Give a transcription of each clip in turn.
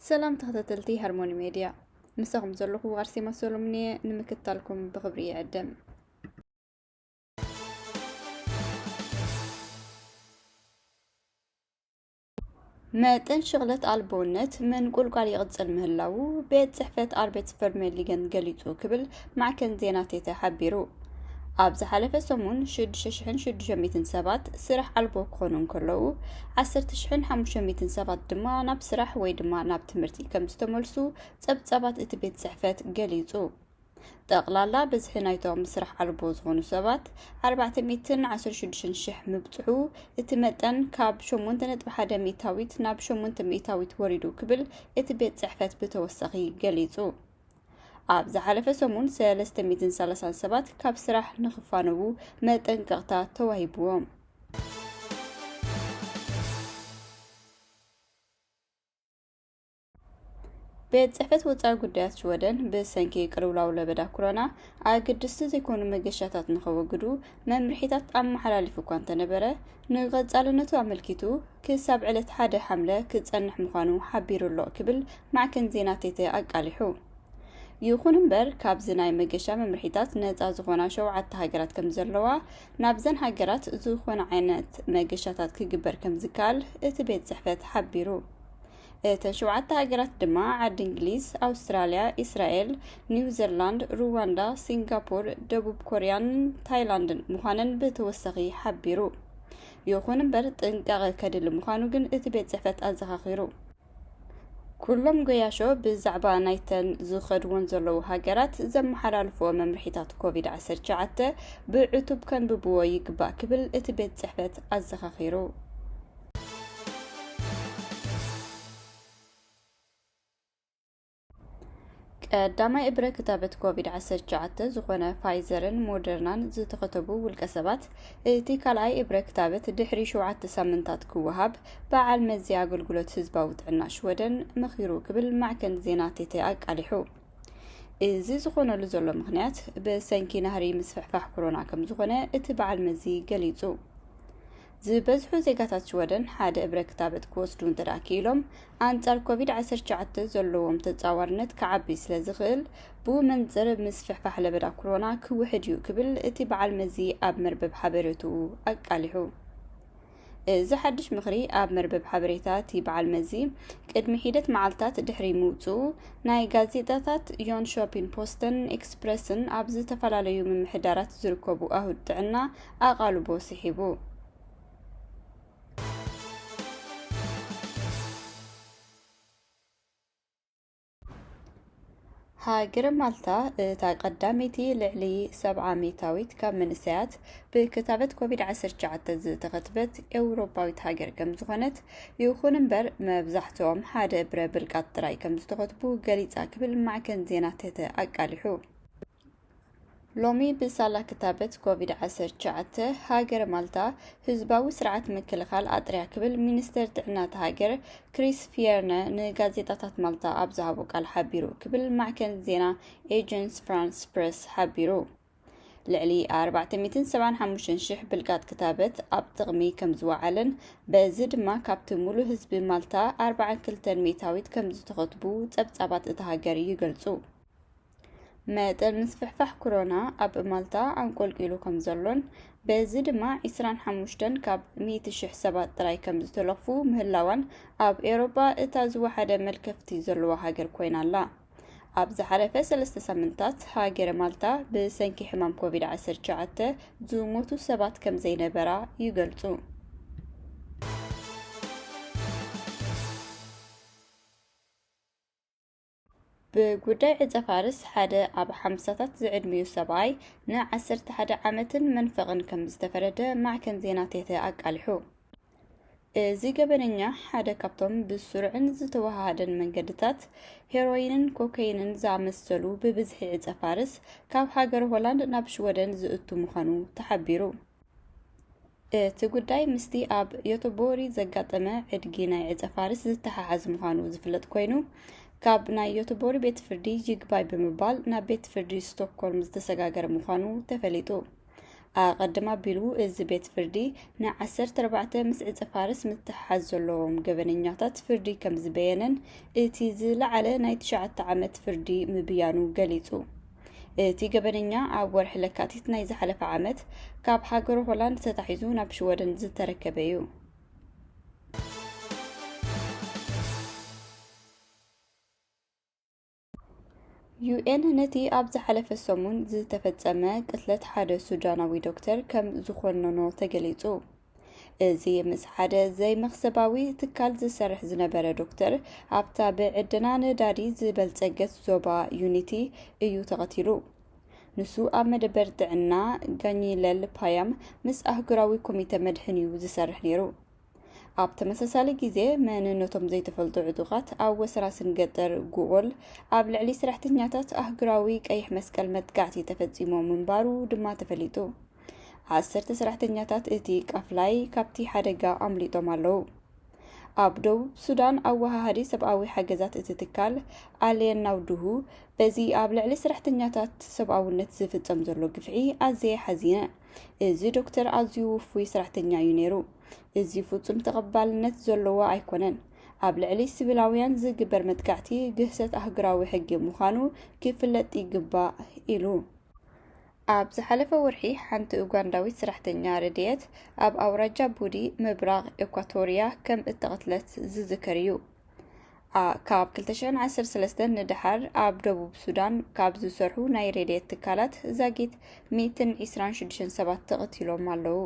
ሰላም ተኸታተልቲ ሃርሞኒ ሜድያ ምሳኹም ዘለኹ ኣርሴማ ሰሎሙን እየ ንምክታልኩም ብኽብሪ ይዕድም መጠን ሽቕለት ኣልቦነት ምንቁልቋል ይቕጽል ምህላዉ ቤት ጽሕፈት ኣርቤት ቨርሜሊገን ገሊጹ ክብል ማዕከን ዜና ቴተ ሓቢሩ። ኣብ ዝሓለፈ ሰሙን 6,600 ሰባት ስራሕ ኣልቦ ክኾኑ እንከለዉ 10,500 ሰባት ድማ ናብ ስራሕ ወይ ድማ ናብ ትምህርቲ ከም ዝተመልሱ ጸብጻባት እቲ ቤት ጽሕፈት ገሊጹ። ጠቕላላ ብዝሒ ናይቶም ስራሕ ኣልቦ ዝኾኑ ሰባት ኣርባዕተ ሚእትን ዓሰርተ ሽዱሽተን ሽሕ ምብጽሑ እቲ መጠን ካብ ሸሞንተ ነጥቢ ሓደ ሚእታዊት ናብ ሸሞንተ ሚእታዊት ወሪዱ ክብል እቲ ቤት ጽሕፈት ብተወሳኺ ገሊጹ። ኣብ ዝሓለፈ ሰሙን 330 ሰባት ካብ ስራሕ ንኽፋነዉ መጠንቀቕታ ተዋሂብዎም። ቤት ጽሕፈት ወጻኢ ጉዳያት ሽወደን ብሰንኪ ቅልውላው ለበዳ ኮሮና ኣገድስቲ ዘይኮኑ መገሻታት ንኸወግዱ መምርሒታት ኣመሓላሊፉ እኳ እንተነበረ ንቐጻልነቱ ኣመልኪቱ ክሳብ ዕለት ሓደ ሓምለ ክጸንሕ ምዃኑ ሓቢሩ ኣሎ ክብል ማዕከን ዜና ቴተ ኣቃሊሑ ይኹን እምበር ካብዚ ናይ መገሻ መምርሒታት ነፃ ዝኾና ሸውዓተ ሃገራት ከም ዘለዋ ናብዘን ሃገራት ዝኾነ ዓይነት መገሻታት ክግበር ከም ዝከኣል እቲ ቤት ጽሕፈት ሓቢሩ እተን ሸውዓተ ሃገራት ድማ ዓዲ እንግሊዝ፣ ኣውስትራልያ፣ ኢስራኤል፣ ኒውዘርላንድ፣ ሩዋንዳ፣ ሲንጋፖር፣ ደቡብ ኮርያን ታይላንድን ምዃነን ብተወሳኺ ሓቢሩ። ይኹን እምበር ጥንቃቐ ከድሊ ምዃኑ ግን እቲ ቤት ጽሕፈት ኣዘኻኺሩ። ኩሎም ገያሾ ብዛዕባ ናይተን ዝኸድዎን ዘለዉ ሃገራት ዘመሓላልፍዎ መምርሒታት ኮቪድ 19 ብዕቱብ ከንብብዎ ይግባእ ክብል እቲ ቤት ጽሕፈት ኣዘኻኺሩ። ቀዳማይ እብረ ክታበት ኮቪድ-19 ዝኾነ ፋይዘርን ሞደርናን ዝተኸተቡ ውልቀ ሰባት እቲ ካልኣይ እብረ ክታበት ድሕሪ ሸውዓተ ሳምንታት ክወሃብ በዓል መዚ ኣገልግሎት ህዝባዊ ጥዕና ሽወደን መኺሩ ክብል ማዕከን ዜና ቴተ ኣቃሊሑ። እዚ ዝኾነሉ ዘሎ ምክንያት ብሰንኪ ናህሪ ምስፍሕፋሕ ኮሮና ከም ዝኾነ እቲ በዓል መዚ ገሊጹ። ዝበዝሑ ዜጋታት ሽወደን ሓደ እብረ ክታበት ክወስዱ እንተደኣ ክኢሎም፣ ኣንጻር ኮቪድ ዓሰርተ ትሽዓተ ዘለዎም ተጻዋርነት ክዓቢ ስለዝኽእል፣ ብኡ መንጽር ምስፍሕፋሕ ለበዳ ኩሮና ክውሕድ እዩ ክብል እቲ በዓል መዚ ኣብ መርበብ ሓበሬትኡ ኣቃሊሑ። እዚ ሓድሽ ምኽሪ ኣብ መርበብ ሓበሬታ እቲ በዓል መዚ ቅድሚ ሒደት መዓልታት ድሕሪ ምውጽኡ፣ ናይ ጋዜጣታት ዮንሾፒን ፖስተን ኤክስፕረስን ኣብ ዝተፈላለዩ ምምሕዳራት ዝርከቡ ኣሁድ ጥዕና ኣቓልቦ ስሒቡ። ሃገረ ማልታ እታ ቀዳመይቲ ልዕሊ ሰብዓ ሚእታዊት ካብ መንእሰያት ብክታበት ኮቪድ-19 ዝተኸትበት ኤውሮፓዊት ሃገር ከም ዝኾነት፣ ይኹን እምበር መብዛሕትኦም ሓደ ብረ ብልቃጥ ጥራይ ከም ዝተኸትቡ ገሊጻ ክብል ማዕከን ዜና ተተ ኣቃሊሑ። ሎሚ ብሳላ ክታበት ኮቪድ-19 ሃገረ ማልታ ህዝባዊ ስርዓት ምክልኻል ኣጥርያ ክብል ሚኒስተር ጥዕና እታ ሃገር ክሪስ ፊየርነ ንጋዜጣታት ማልታ ኣብ ዝሃቦ ቃል ሓቢሩ ክብል ማዕከን ዜና ኤጀንስ ፍራንስ ፕረስ ሓቢሩ። ልዕሊ 475,000 ብልቃጥ ክታበት ኣብ ጥቕሚ ከም ዝወዓለን በዚ ድማ ካብቲ ሙሉእ ህዝቢ ማልታ 42 ሚእታዊት ከም ዝተኸትቡ ጸብጻባት እታ ሃገር ይገልጹ። መጠን ምስፍሕፋሕ ኩሮና ኣብ ማልታ ኣንቆልቂሉ ከም ዘሎን በዚ ድማ 25 ካብ 100,000 ሰባት ጥራይ ከም ዝተለኽፉ ምህላዋን ኣብ ኤውሮጳ እታ ዝወሓደ መልከፍቲ ዘለዋ ሃገር ኮይና ኣላ። ኣብ ዝሓለፈ ሰለስተ ሳምንታት ሃገረ ማልታ ብሰንኪ ሕማም ኮቪድ-19 ዝሞቱ ሰባት ከም ዘይነበራ ይገልጹ። ብጉዳይ ዕጸ-ፋርስ ሓደ ኣብ ሓምሳታት ዝዕድሚኡ ሰብኣይ ንዓሰርተ ሓደ ዓመትን መንፈቕን ከም ዝተፈረደ ማዕከን ዜና ቴተ ኣቃሊሑ። እዚ ገበነኛ ሓደ ካብቶም ብስሩዕን ዝተወሃሃደን መንገድታት ሄሮይንን ኮከይንን ዝኣመሰሉ ብብዝሒ ዕጸ-ፋርስ ካብ ሃገረ ሆላንድ ናብ ሽወደን ዝእቱ ምዃኑ ተሓቢሩ። እቲ ጉዳይ ምስቲ ኣብ ዮቶቦሪ ዘጋጠመ ዕድጊ ናይ ዕጸፋርስ ዝተሓሓዝ ምዃኑ ዝፍለጥ ኮይኑ፣ ካብ ናይ ዮቶቦሪ ቤት ፍርዲ ይግባይ ብምባል ናብ ቤት ፍርዲ ስቶክኮልም ዝተሰጋገረ ምዃኑ ተፈሊጡ። ኣቐድም ኣቢሉ እዚ ቤት ፍርዲ ንዓሰርተ ኣርባዕተ ምስ ዕጸፋርስ ምትሕሓዝ ዘለዎም ገበነኛታት ፍርዲ ከም ዝበየነን እቲ ዝለዓለ ናይ ትሽዓተ ዓመት ፍርዲ ምብያኑ ገሊጹ። እቲ ገበነኛ ኣብ ወርሒ ለካቲት ናይ ዝሓለፈ ዓመት ካብ ሃገር ሆላንድ ተታሒዙ ናብ ሽወደን ዝተረከበ እዩ። ዩኤን ነቲ ኣብ ዝሓለፈ ሰሙን ዝተፈጸመ ቅትለት ሓደ ሱዳናዊ ዶክተር ከም ዝኾነኖ ተገሊጹ። እዚ ምስ ሓደ ዘይመኽሰባዊ ትካል ዝሰርሕ ዝነበረ ዶክተር ኣብታ ብዕደና ነዳዲ ዝበልጸገት ዞባ ዩኒቲ እዩ ተቐቲሉ። ንሱ ኣብ መደበር ጥዕና ጋኝለል ፓያም ምስ ኣህጉራዊ ኮሚተ መድሕን እዩ ዝሰርሕ ነይሩ። ኣብ ተመሳሳሊ ግዜ መንነቶም ዘይተፈልጡ ዕጡቓት ኣብ ወሰራስን ገጠር ጉኦል ኣብ ልዕሊ ሰራሕተኛታት ኣህጉራዊ ቀይሕ መስቀል መጥቃዕቲ ተፈጺሙ ምንባሩ ድማ ተፈሊጡ። ዓሰርተ ሰራሕተኛታት እቲ ቃፍላይ ካብቲ ሓደጋ ኣምሊጦም ኣለዉ። ኣብ ደቡብ ሱዳን ኣወሃሃዲ ሰብኣዊ ሓገዛት እቲ ትካል ኣልየን ናውድሁ በዚ ኣብ ልዕሊ ሰራሕተኛታት ሰብኣውነት ዝፍጸም ዘሎ ግፍዒ ኣዝየ ሓዚነ። እዚ ዶክተር ኣዝዩ ውፉይ ሰራሕተኛ እዩ ነይሩ። እዚ ፍጹም ተቐባልነት ዘለዎ ኣይኮነን። ኣብ ልዕሊ ሲቪላውያን ዝግበር መጥቃዕቲ ግህሰት ኣህጉራዊ ሕጊ ምዃኑ ክፍለጥ ይግባእ ኢሉ። ኣብ ዝሓለፈ ወርሒ ሓንቲ ኡጋንዳዊት ሰራሕተኛ ረድኤት ኣብ ኣውራጃ ቡዲ ምብራቕ ኤኳቶርያ ከም እተቐትለት ዝዝከር እዩ። ካብ 2013 ንደሓር ኣብ ደቡብ ሱዳን ካብ ዝሰርሑ ናይ ረድኤት ትካላት ዛጊት 126 ሰባት ተቐቲሎም ኣለዉ።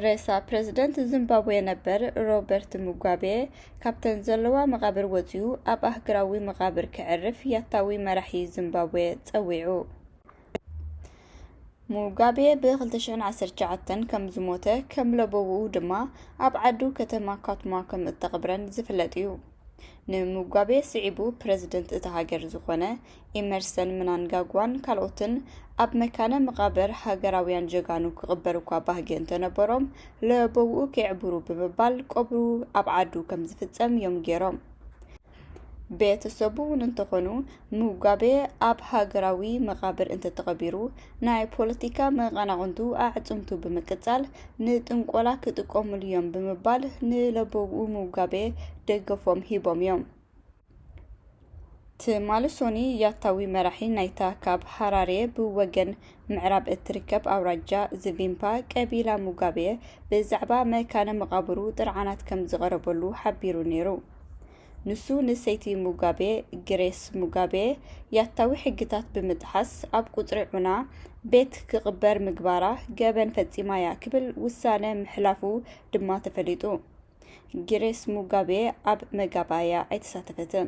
ሬሳ ፕረዚደንት ዚምባብዌ ነበር ሮበርት ሙጋቤ ካብተን ዘለዋ መቓብር ወጺኡ ኣብ ኣህግራዊ መቓብር ክዕርፍ ያታዊ መራሒ ዚምባብዌ ጸዊዑ። ሙጋቤ ብ2019 ከም ዝሞተ ከም ለበውኡ ድማ ኣብ ዓዱ ከተማ ካቱማ ከም እተቕብረን ዝፍለጥ እዩ። ንሙጋቤ ስዒቡ ፕረዚደንት እታ ሃገር ዝኾነ ኢመርሰን ምናንጋግዋን ካልኦትን ኣብ መካነ መቓብር ሃገራውያን ጀጋኑ ክቕበሩ እኳ ባህጊ እንተነበሮም ለበውኡ ከየዕብሩ ብምባል ቀብሩ ኣብ ዓዱ ከም ዝፍጸም እዮም ገይሮም። ቤተሰቡ እውን እንተኾኑ ሙጋቤ ኣብ ሃገራዊ መቓብር እንተተቐቢሩ፣ ናይ ፖለቲካ መቐናቕንቱ ኣዕጽምቱ ብምቅጻል ንጥንቆላ ክጥቀሙሉ'ዮም ብምባል ንለበዉ ሙጋቤ ደገፎም ሂቦም'ዮም። ትማሊ ሶኑይ ያታዊ መራሒ ናይታ ካብ ሃራሬ ብወገን ምዕራብ እትርከብ ኣውራጃ ዝቪምፓ ቀቢላ ሙጋቤ ብዛዕባ መካነ መቓብሩ ጥርዓናት ከምዝቐረበሉ ሓቢሩ ነይሩ። ንሱ ንሰይቲ ሙጋቤ ግሬስ ሙጋቤ ያታዊ ሕግታት ብምጥሓስ ኣብ ቁጽሪ ዑና ቤት ክቕበር ምግባራ ገበን ፈጺማ'ያ ክብል ውሳነ ምሕላፉ ድማ ተፈሊጡ። ግሬስ ሙጋቤ ኣብ መጋባእያ ኣይተሳተፈትን።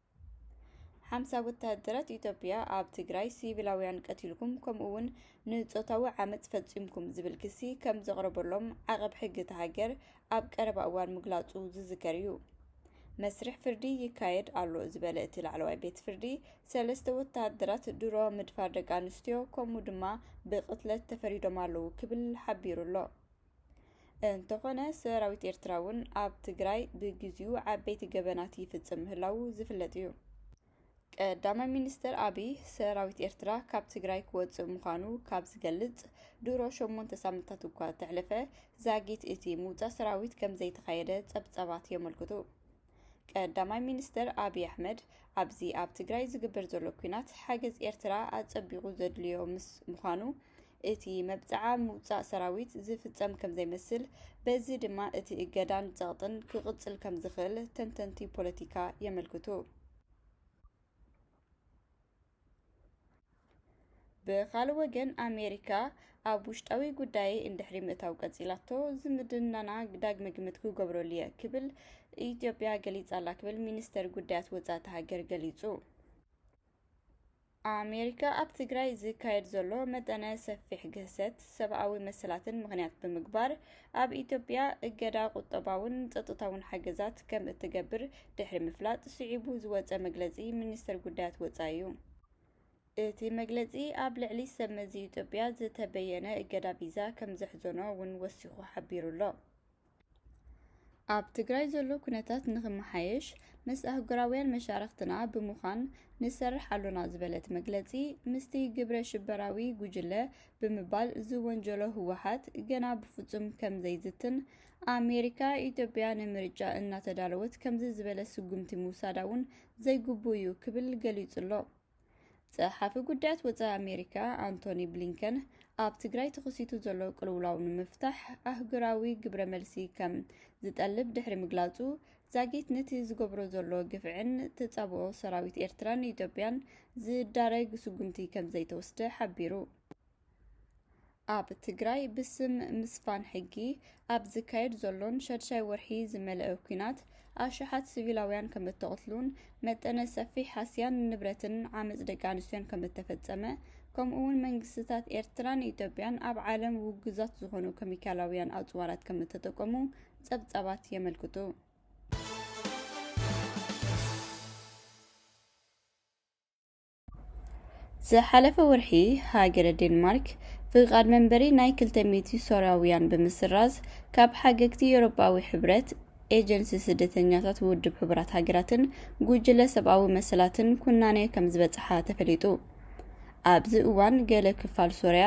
ሓምሳ ወተሃደራት ኢትዮጵያ ኣብ ትግራይ ሲቪላውያን ቀቲልኩም ከምኡ'ውን ንጾታዊ ዓመጽ ፈጺምኩም ዝብል ክሲ ከም ዘቕረበሎም ዓቐብ ሕጊ እታ ሃገር ኣብ ቀረባ እዋን ምግላጹ ዝዝከር እዩ። መስርሕ ፍርዲ ይካየድ ኣሎ ዝበለ እቲ ላዕለዋይ ቤት ፍርዲ ሰለስተ ወተሃደራት ድሮ ምድፋር ደቂ ኣንስትዮ ከምኡ ድማ ብቕትለት ተፈሪዶም ኣለዉ ክብል ሓቢሩ ኣሎ። እንተኾነ ሰራዊት ኤርትራ እውን ኣብ ትግራይ ብግዚኡ ዓበይቲ ገበናት ይፍጽም ምህላዉ ዝፍለጥ እዩ። ቀዳማይ ሚኒስተር ኣቢይ ሰራዊት ኤርትራ ካብ ትግራይ ክወጽእ ምዃኑ ካብ ዝገልጽ ድሮ ሸሞንተ ሳምንታት እኳ እንተሕለፈ ዛጊት እቲ ምውጻእ ሰራዊት ከምዘይተኻየደ ጸብጻባት የመልክቱ። ቀዳማይ ሚኒስተር ኣብይ ኣሕመድ ኣብዚ ኣብ ትግራይ ዝግበር ዘሎ ኲናት ሓገዝ ኤርትራ ኣጸቢቑ ዘድልዮ ምስ ምዃኑ እቲ መብጽዓ ምውጻእ ሰራዊት ዝፍጸም ከም ዘይመስል በዚ ድማ እቲ እገዳን ጸቕጥን ክቕጽል ከም ዝኽእል ተንተንቲ ፖለቲካ የመልክቱ። ብኻልእ ወገን ኣሜሪካ ኣብ ውሽጣዊ ጉዳይ እንድሕሪ ምእታው ቀፂላቶ ዝምድናና ዳግመ ግምት ክገብረሉ እየ ክብል ኢትዮጵያ ገሊፃላ ክብል ሚኒስተር ጉዳያት ወፃእቲ ሃገር ገሊፁ። ኣሜሪካ ኣብ ትግራይ ዝካየድ ዘሎ መጠነ ሰፊሕ ግህሰት ሰብኣዊ መሰላትን ምኽንያት ብምግባር ኣብ ኢትዮጵያ እገዳ ቁጠባውን ጸጥታውን ሓገዛት ከም እትገብር ድሕሪ ምፍላጥ ስዒቡ ዝወጸ መግለጺ ሚኒስተር ጉዳያት ወጻኢ እዩ። እቲ መግለጺ ኣብ ልዕሊ ሰብመዚ ኢትዮጵያ ዝተበየነ እገዳ ቪዛ ከም ዘሕዘኖ እውን ወሲኹ ሓቢሩ ኣሎ። ኣብ ትግራይ ዘሎ ኩነታት ንክመሓየሽ ምስ ኣህጉራውያን መሻርኽትና ብምዃን ንሰርሕ ኣሎና ዝበለ እቲ መግለጺ ምስቲ ግብረ ሽበራዊ ጉጅለ ብምባል ዝወንጀሎ ህወሓት ገና ብፍፁም ከምዘይዝትን ኣሜሪካ ኢትዮጵያ ንምርጫ እናተዳለወት ከምዚ ዝበለ ስጉምቲ ምውሳዳ እውን ዘይግቡእ እዩ ክብል ገሊጹ'ሎ። ጸሓፊ ጉዳያት ወጻኢ ኣሜሪካ ኣንቶኒ ብሊንከን ኣብ ትግራይ ተኸሲቱ ዘሎ ቅልውላው ንምፍታሕ ኣህጉራዊ ግብረ መልሲ ከም ዝጠልብ ድሕሪ ምግላጹ ዛጊት ንቲ ዝገብሮ ዘሎ ግፍዕን ተጻብኦ ሰራዊት ኤርትራን ኢትዮጵያን ዝዳረግ ስጉምቲ ከምዘይተወስደ ሓቢሩ። ኣብ ትግራይ ብስም ምስፋን ሕጊ ኣብ ዝካየድ ዘሎን ሸድሻይ ወርሒ ዝመልአ ኲናት ኣሽሓት ሲቪላውያን ከምእተቕትሉን መጠነ ሰፊሕ ሃስያን ንብረትን ዓመጽ ደቂ ኣንስትዮን ከምእተፈጸመ ከምኡውን መንግስትታት ኤርትራን ኢትዮጵያን ኣብ ዓለም ውጉዛት ዝኾኑ ከሚካላውያን ኣጽዋራት ከምእተጠቀሙ ጸብጻባት የመልክቱ። ዝሓለፈ ወርሒ ሃገረ ዴንማርክ ፍቓድ መንበሪ ናይ 200 ሶርያውያን ብምስራዝ ካብ ሓገግቲ ኤውሮጳዊ ሕብረት ኤጀንሲ ስደተኛታት ውድብ ሕቡራት ሃገራትን ጉጅለ ሰብኣዊ መሰላትን ኩናኔ ከም ዝበጽሓ ተፈሊጡ ኣብዚ እዋን ገለ ክፋል ሶርያ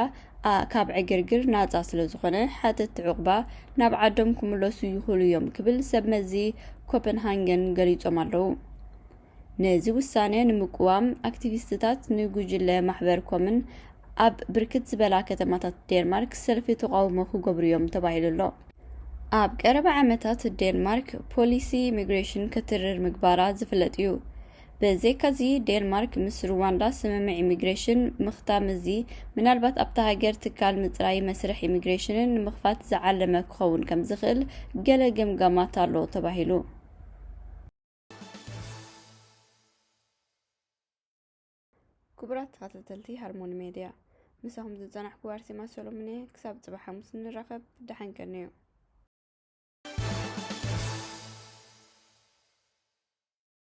a ካብ ዕግርግር ናጻ ስለ ዝኾነ ሓተትቲ ዑቕባ ናብ ዓዶም ክምለሱ ይኽእሉ እዮም ክብል ሰብ መዚ ኮፐንሃንገን ገሊጾም ኣለዉ። ነዚ ውሳነ ንምቅዋም ኣክቲቪስትታት ንጉጅለ ማሕበር ኮምን ኣብ ብርክት ዝበላ ከተማታት ዴንማርክ ሰልፊ ተቓውሞ ክገብሩ እዮም ተባሂሉ ኣሎ። ኣብ ቀረባ ዓመታት ዴንማርክ ፖሊሲ ኢሚግሬሽን ከትርር ምግባራ ዝፍለጥ እዩ። ብዘይካዚ ዴንማርክ ምስ ሩዋንዳ ስምምዕ ኢሚግሬሽን ምኽታም እዚ ምናልባት ኣብታ ሃገር ትካል ምፅራይ መስርሕ ኢሚግሬሽንን ንምኽፋት ዝዓለመ ክኸውን ከምዝኽእል ገለ ገምጋማት ኣሎ ተባሂሉ። ክቡራት ተኸታተልቲ ሃርሞኒ ሜድያ ምሳኹም ዝፀናሕኩ ኣርሴማ ሰሎሞን እየ። ክሳብ ፅባሕ ሓሙስ ንራኸብ። ደሓን ከንዩ።